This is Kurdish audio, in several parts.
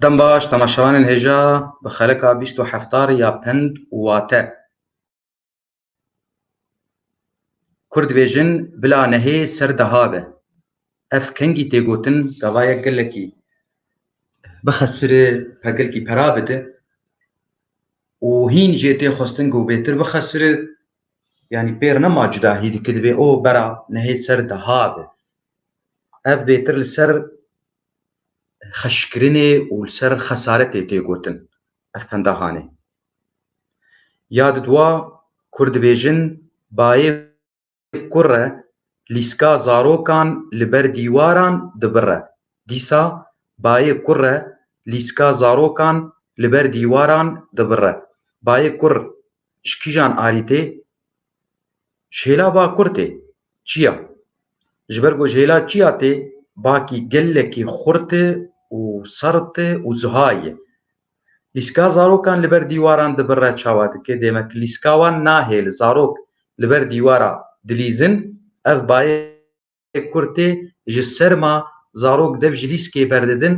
Dem baş temaşevanên hêja bi xelika bîst û heftar ya pend û wate. Kur dibêjin bila nehê ser deha be. Ev kengî tê gotin gava yek gelekî bixesirê pegelkî pera bide û hîn jê tê xwestin ku bêtir bixesire Yanî pêr nema cuda hî dike divê o bera nehê ser deha be. Ev bêtir li ser xeşkirinê û li ser xesaretê tê gotin ev pendahanê. Ya di dua kur dibêjin bayê kurre lîska zarokan li ber dîwaran dibire. Dîsa bayê kurre lîska zarokan li ber dîwaran dibire. Bayê kur Ji kîjan arî tê? Ji hêla bakur tê. Çiya? Ji ber ku ji hêla çiya tê, bakî gelekî xurt e û serd e û ziha ye. Lîska zarokan li ber dîwaran dibirre çawa dike, dê me ki lîska wan nahêl zarok li ber dîwara dilîzin, ev bayê Gelê Kurd tê ji serma zarok dev ji lîskê berdidin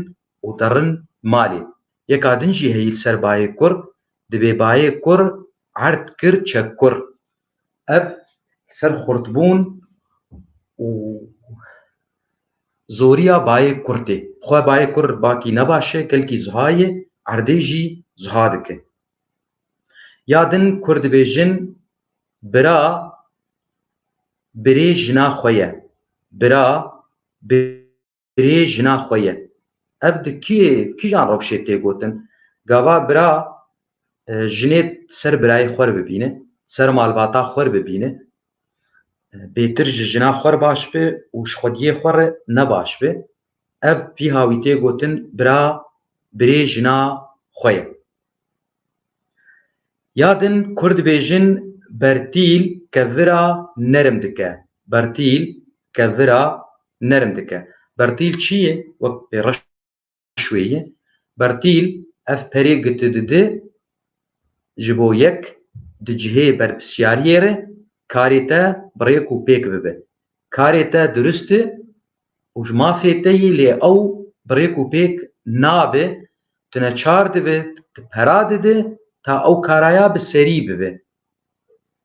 û derin malê. Yeka din jî heyî li ser bayê kur dibê bayê kur erd kir çek kur. Ev ser xurtbûn û zoriya bayê kur tê. Xwe bayê kur bakî ne baş e, kelkî ziha ye, erdê jî ziha dike. Ya din kur dibêjin bira Birê jina xwe ye. Bira birê jina xwe ye. Ev di kî kîjan rewşê tê gotin? Gava bira jinê ser birayê xwer bibîne, ser malbata xwer bibîne. Bêtir ji jina xwer baş bi û ji xwediyê xwe re ne baş bi. Ev vî hawî tê gotin bira birê jina xwe ye. Ya din Kurd dibêjin bertîl kevira nerm dike. Bertîl kevira nerm dike. Bertîl çi ye? Wek pêreş wê ye. Bertîl ev perê giti didi ji bo yek di cihê berpisyariyê re karê te bi rêk û pêk bibe. Karê te durist e û ji mafê te yî lê ew bi rêk û pêk nabe, tu neçar dibe, tu pera dide ta ew karaya bi serî bibe.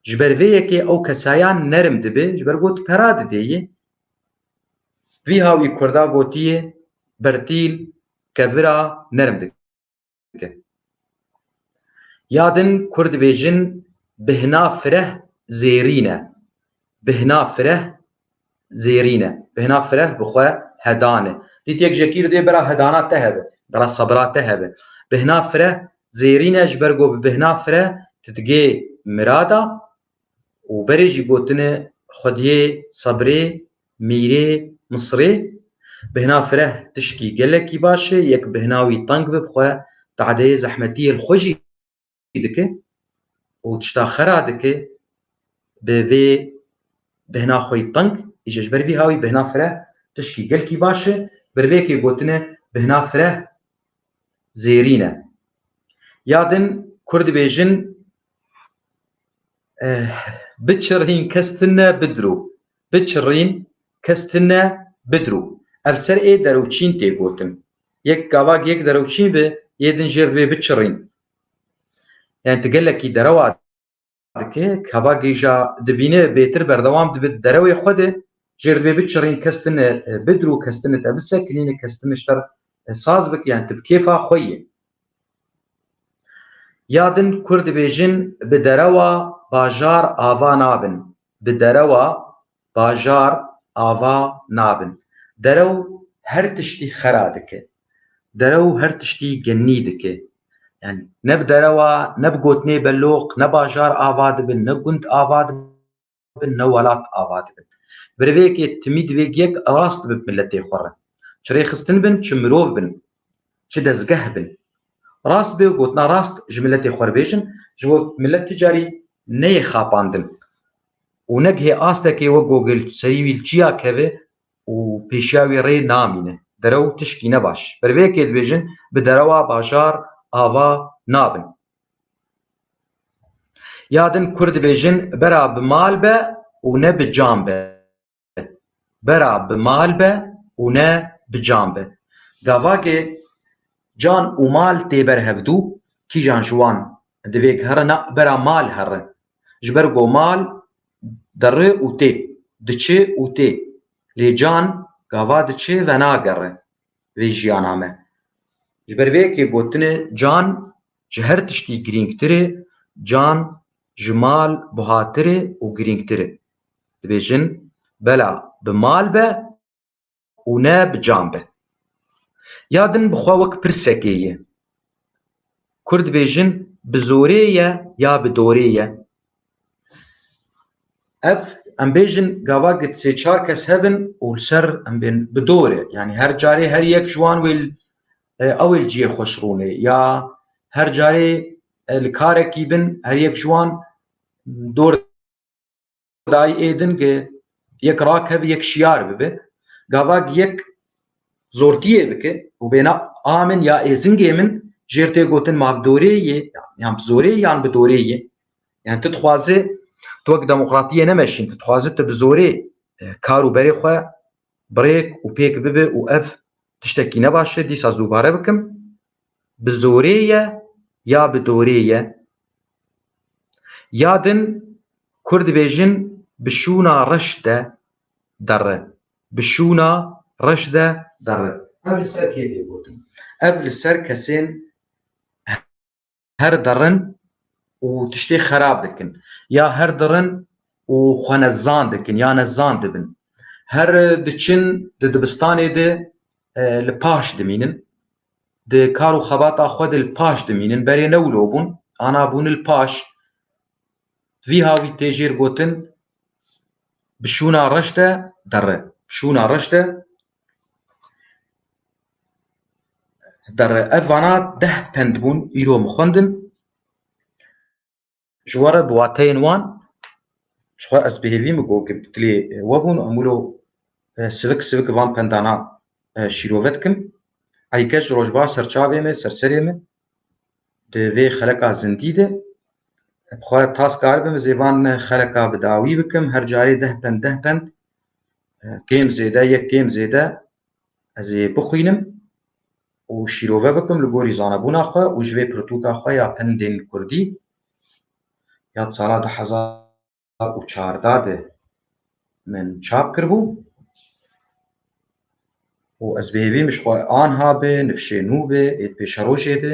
Ji ber vê yekê ew kesayan nerm dibe ji ber ku tu pera dide yê. Vî hawî kurda gotiye, Bertîl kevira nerm dike. dikin. Ya din Kurd dibêjin bihna fireh zêrîn e. Bihna fireh zêrîn e. Bihna fireh bi xwe hedan e. Dît yek jekî dibê bera hedana te hebe, bera sebira te hebe. Bihna fireh zêrîn e ji ber ku bi bihna fireh tu digê mirada û berê jî gotine xwediyê sebrê, mîrê, misrê, bihna fireh tişkî gelekî baş e, yek bihna wî teng be bi xwe tadeyê zehmetiyê li xwe jî dike û tişta xera dike bi vê bihna xweyî teng, îje ji ber vî hawî bihna fireh tişkî gelkî baş e, bi rivêkê gotine bihna fireh zêrîn e. Ya din kur dibêjin Biçirîn kes ti ne bidirû. Biçirîn kes ti ne bidirû. Ev ser ê derewçîn tê gotin. Yek gava yek derewçîn bi yê din jêr bê biçirîn. Yani ti gelekî derewa dikê kava gêja dibîne bêtir berdewam dibi derewê xwe de jêr bê biçirîn kes ti ne bidirû kes ti ne te bisekinîne kes ti ne ji te saz bike yani ti bi kêfa xwe yê. Ya din Kurd dibêjin bi derewa bajar ava nabin, bi derewa bajar ava nabin. Derew her tiştî xera dike. Derew her tiştî genî dike. Yanî ne bi derewa, ne bi gotinê beloq, ne bajar ava dibin, ne gund ava dibin. bin ne welat ava dibin. Bi rivêkê timî divê gek rast bi miletê xwe re. Çi rêxistin bin, çi mirov bin, çi dezgeh bin. Rast bê û gotina rast ji miletê xwe re bêjin, ji bo milet tu carî neyê xapandin û ne gihê astekê wek ku gel serî wî li çiya keve û pêşiya wî rê namîne. Derew tişkî ne baş. Bi rivêkê dibêjin bi derewa bajar ava nabin. Ya din kur dibêjin bera bi mal be û ne bi can be. Bera bi mal be û ne bi can be. Gavakê can û mal tê ber hevdû, kîjan ji wan divê gihere na bera mal here. Ji ber ku mal dere û tê, diçe û tê. Lê can gava diçe ve nagere. vê jiyana me. Ji ber vê yekê gotinê can ji her tiştî girîngtir e, can ji mal buhatir e û girîngtir e. Dibêjin bela bi mal be û ne bi can be. Ya din bi xwe wek pirsekê ye, Kurd dibêjin bi zorê ye ya bi dorê ye. Ev em bêjin gava gid sê çar kes hebin û li ser em bên bi dorê yanî her carê her yek ji wan wê ew ê li cihê xweş rûnê ya her carê li karekî bin her yek ji wan dor Dayî ê din ki yek rakeve yek şiyar bibe. Gavak yek zortiyê bike û bêne a min ya êzingê min jêr tê gotin ma bi dorê yê yan bi zorê yan bi dorê yê. Yani tu dixwazê tu wek demokratiyê nemeşîn, tu dixwazê tu bi zorê kar û berê xwe birêk û pêk bibe û ev tiştekî ne baş e dîsa ez dubare bikim. bi zorê ye ya bi dorê ye. Ya din kur dibêjin bi şûna reş de derre. Bi şûna reş de derre. Ev li ser kê tê gotin? Ev li ser kesên her dirin û tiştê xerab dikin ya her dirin û xwe ne zan dikin ya ne zan dibin. Her diçin di dibistanê de li paş dimînin. Di kar û xebata xwe de li paş dimînin. Berê ne wilo bûn, ana bûn li paş. Vî ha wî tê jêr gotin bişûna reş de derre. Bişûna reş de Derre ev vana deh pend bûn îro min xwendin ji we re bi wateyên wan jixwe ez bi hêvî min got dilê we bûn em wilo sivik sivik van pendana şîrove dikim eyî kes ji rojba ser çavê min ser serê min di vê xeleka zindî de bi xwe tas kar bim zêvan xeleka bi dawî bikim her carê deh pend deh pend kêm zêde yek kêm zêde ez ê bixwînim û şîrove bikim li gorî zanebûna xwe û ji vê pirtûka xwe ya pendên kurdî ya di sala du hezar û çarda de min çap kiribû û ez bi hêvî min ji xwe anha bi nifşê nû bi êdpêşerojê de